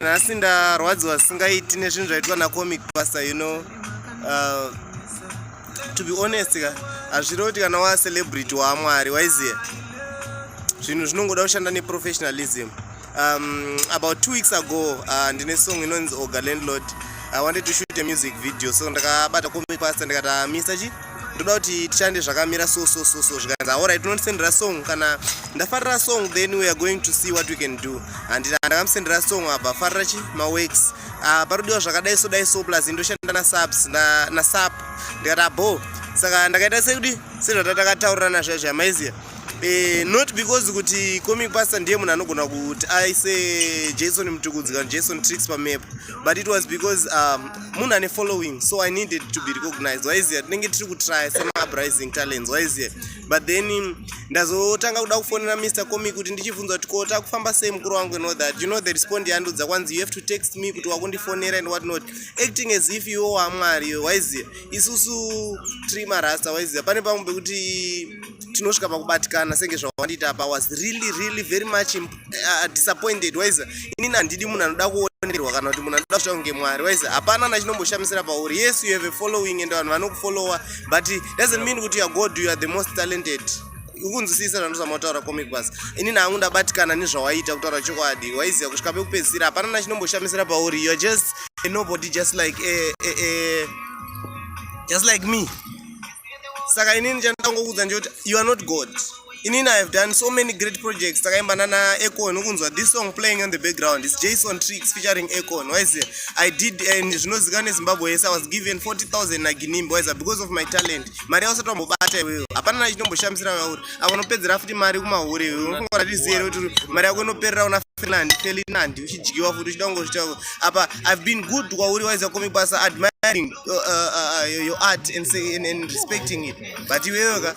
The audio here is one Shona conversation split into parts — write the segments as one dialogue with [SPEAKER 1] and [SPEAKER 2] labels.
[SPEAKER 1] nhasi ndarwadziwa singaiti nezvinhu zvaitwa nacomic pasa you know uh, to be honest ka hazvirevo kuti kana wacelebrity waamwari waiziye zvinhu zvinongoda kushanda neprofessionalism um, about two weeks ago uh, ndine song inonzi oga landlord i wanted to shoot a music video so ndakabata comic pasa ndikati uh, mr chi ndoda kuti tichande zvakamira so so so so zvikanzi aorit unondisendera song kana ndafarira song then weare going to see what we can do handina ndakamusendera song abva afarira chi maworks ah, parodiwa zvakadai so dai so plus ndoshanda nasubs nasap ndikati abo saka ndakaita sekuti sezvatatakataurirana zviya zviya maiziya Eh, not because kuti comic pastor ndiye munhu anogona kuti aise jason mutukudzi kana jason tricks pamepo but it was because um, munhu ane following so i needed to be recognized waiziva tinenge tiri kutrya semauprising talents waiziva but then um, ndazotanga kuda kufonera mr comi kuti ndichibvunza kuti ko takufamba sei mukuru wangu you know that you know the respond yandudza kwanzi you have to text me kuti wakundifonera and what not acting as if iwo wamwari iwe waiziva isusu tiri marasta waiziva pane pamwe pekuti tinosvika pakubatikana senge zvawandiita apa was really really very much imp uh, disappointed waiza inini handidi munhu anoda kuonerwa kana kuti munhu anoda kuita kunge mwari waiza hapana na chinomboshamisira pauri yes you have a following and vanhu vanokufollowa but doesn't mean kuti youare god you are the most talented ukunzwisisa zvandozama kutaura comic bas inini hangu ndabatikana nezvawaiita kutaura chokwadi waiziva kusvika pekupedzisira hapana na chinomboshamisira pauri youare just a nobody just like a, a, a, just like me saka inini chandangokuudza nje kuti you are not god inini i have done so many great projects takaimba nana econ ukunzwa this song playing on the background is jason tricks featuring econ wise i did and zvinozikana nezimbabwe yese i was given 40000 naginimbi wise because of my talent mari yausati wambobata iweyo hapana na chinomboshamisira yauri ava unopedzera futi mari kumahure iwe unofunga kuti zero kuti mari yako inoperera una fernand felinandi uchidyiwa futi uchida kungozvitawo apa i've been good kwauri wise yakomi basa admiring uh, uh, uh, your art and, say, and, and respecting it but iweyoka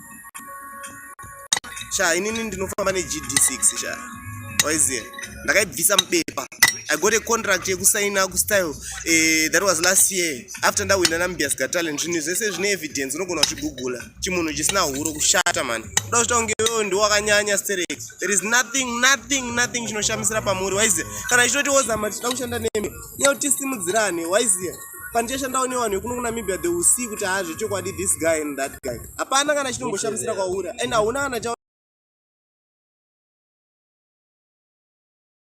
[SPEAKER 1] sha inini ndinofamba negd6 sha waiziva ndakaibvisa mubepa i got a contract yekusaina kustyle uh, eh, that was last year after ndawina nambias ga talent zvinhu zvese zvine evidence unogona kuzvigugula chimunhu chisina huro kushata mani kuda kuchita kunge wewo ndi wakanyanya sterek there is nothing nothing nothing chinoshamisira pamuri waiziva kana chitoti wozama tichida kushanda nemi nyauti simudzirane waiziva pandichashandawo nevanhu vekuno kunamibia the will see kuti haa zvechokwadi this guy and that guy hapana kana chitomboshamisira kwauri and hauna kana